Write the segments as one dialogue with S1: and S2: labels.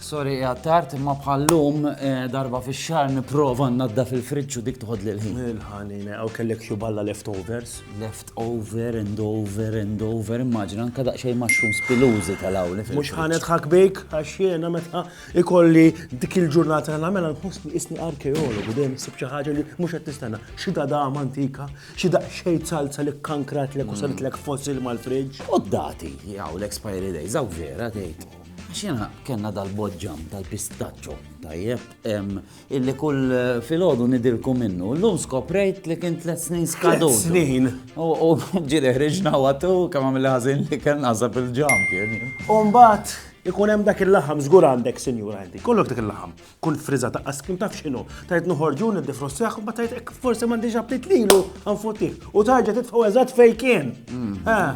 S1: Sorry qiegħed tard, imma bħallum eh, darba fix-xahar nipprova nnaddaf il-friġġ u dik toħodli l-ħin. Il-ħanina, u kellek xi balla leftovers. Left over and over and over, immaġina anka daqsxejn mushrooms pilużi tal-awli Mhux fil-friġġ. ħanet ħak bejk, għax jiena meta ikolli dik il-ġurnata nagħmel nħossni isni arkeologu dejjem issib xi ħaġa li mhux qed tistenna. Xi dadam antika, xi daqsxejn salza li kkankrat lek u saritlek fossil mal-friġġ. U d-dati, jaw l-expiry days, għaw vera tgħid. Xena kena dal-bodġam, dal-pistaccio, tajjeb, illi kull eh, fil-ħodu nidilku minnu. L-lum skoprejt li kien tlet snin skadu. Snin. U ġili ħriġna għatu, kam għamil ħazin li kien għazab il-ġam kien. Umbat, ikun hemm dak il-laħam, zgur għandek, sinjur għandi, kollok dak il-laħam. Kull friża ta' ice cream taf x'inhu, tgħid noħorġu niddefrossjah u mbagħad tgħid hekk forsi m'għandix aptit lilu nfuttih u tarġa' titfgħu eżatt fejn kien.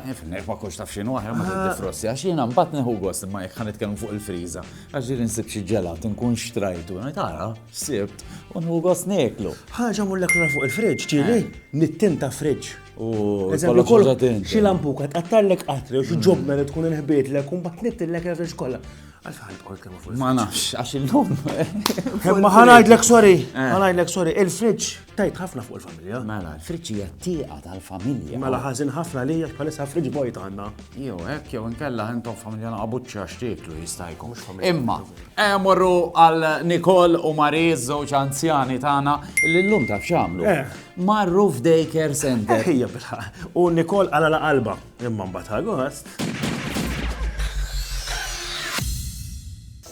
S1: Nifhmek ma kunx taf x'inhu aħjar ma tiddefrossjax, jiena mbagħad nieħu gost imma jekk ħa nitkellmu fuq il-friża. Għax ġieli nsib xi ġelat inkun xtrajtu, ngħid ara sibt u nieħu gost nieklu. Ħaġa mhurlek lura fuq il-fridge, ġieli nittinta fridge. U Eżempju, kollox ħaġa tinta. xi lampuka tqattgħallek qatri jew xi ġobna li tkun inħbietlek u mbagħad tnittillek il-fridge kollha. Ma nafx, għax il-lum. Ma ħanajdlek sorry, eh. ħanajdlek sorry, il-fridġ tajt ħafna fuq il-familja. Mela, il-fridġ hija t-tieqa tal-familja. Mela ħażin ħafna li jgħax bħalissa fridġ bojt għandna. Jew hekk jew inkella intom familja naqabuċċa x'tieklu jista' jkun. Imma, eh, morru għal Nikol u Mariz żewġ anzjani tagħna li llum taf x'għamlu. Eh. Marru f'daycare center. Ejja bilħaq. U Nikol għala la qalba. Imma mbagħad Agost.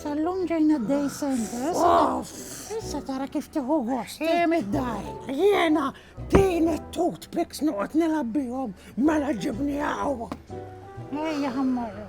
S1: Sallum ġejna d-day center. Issa tara kif tiħu gost. Jem id-dar. Jena din it-toothpicks noqgħod nilgħab bihom mela ġibni għaw. Ejja ħammorru.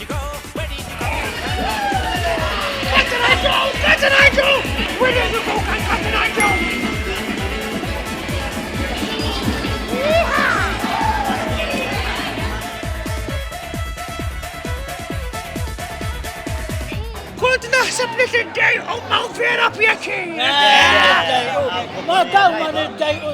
S1: Naħseb li tiddejqu ma' vera pjaċir. Ma' dawn ma' niddejqu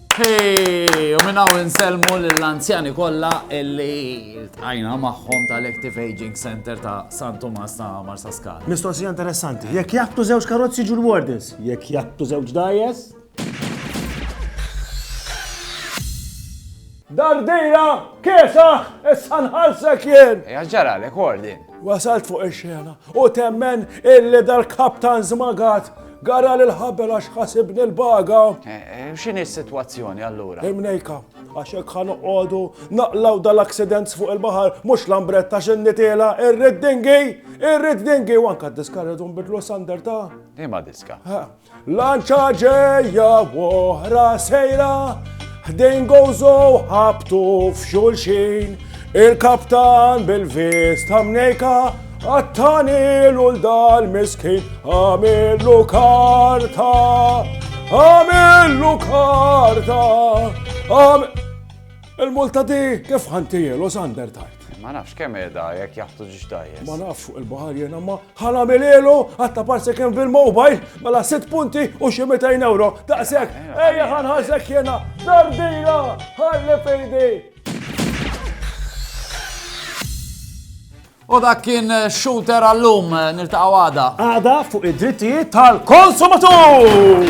S1: Hey, u minnaw insellmu l-anzjani kolla illi tajna maħħom tal-Active Aging Center ta' San Tomas ta' Marsa Skala. Mistoqsija interessanti, jekk jattu zewġ karozzi ġu l-wardens, jekk jattu zewġ dajes? Dardira, kesaħ, essan ħalsek jien! Jaġġara l-ekordin. Wasalt fuq il-xena u temmen illi dal-kaptan zmagat Garali l-ħabel għax ħasibni l-baga. X'inhi s-sitwazzjoni allura? Imnejka, għax hekk ħa noqogħdu naqlaw dal-accidents fuq il-baħar mhux lambretta x'in nitela irrid dingi, irrid dingi u anke diska rridu nbidlu sander ta' Ima diska. Lanċa ġejja oħra sejra, ħdejn gozo ħabtu f'xulxin, il-kaptan bil-vista mnejka Għattanilu l-dal-miskin, għamillu karta, għamillu karta, għam... Il-multa di kif ħantijilu sander tajt. Ma nafx kemm edha jekk jaħtu ġiġ tajjes. Ma nafx fuq il-bahar jena ma ħana mililu għatta parse kemm fil-mobile mela 6 punti u xi 200 euro. Daqsek, eh, eh, ejja eh. ħanħasek jena, dardina, ħalli fejdi. U dak kien shooter għallum niltaqgħu għada. Għada fuq id-drittijiet tal-konsumatur!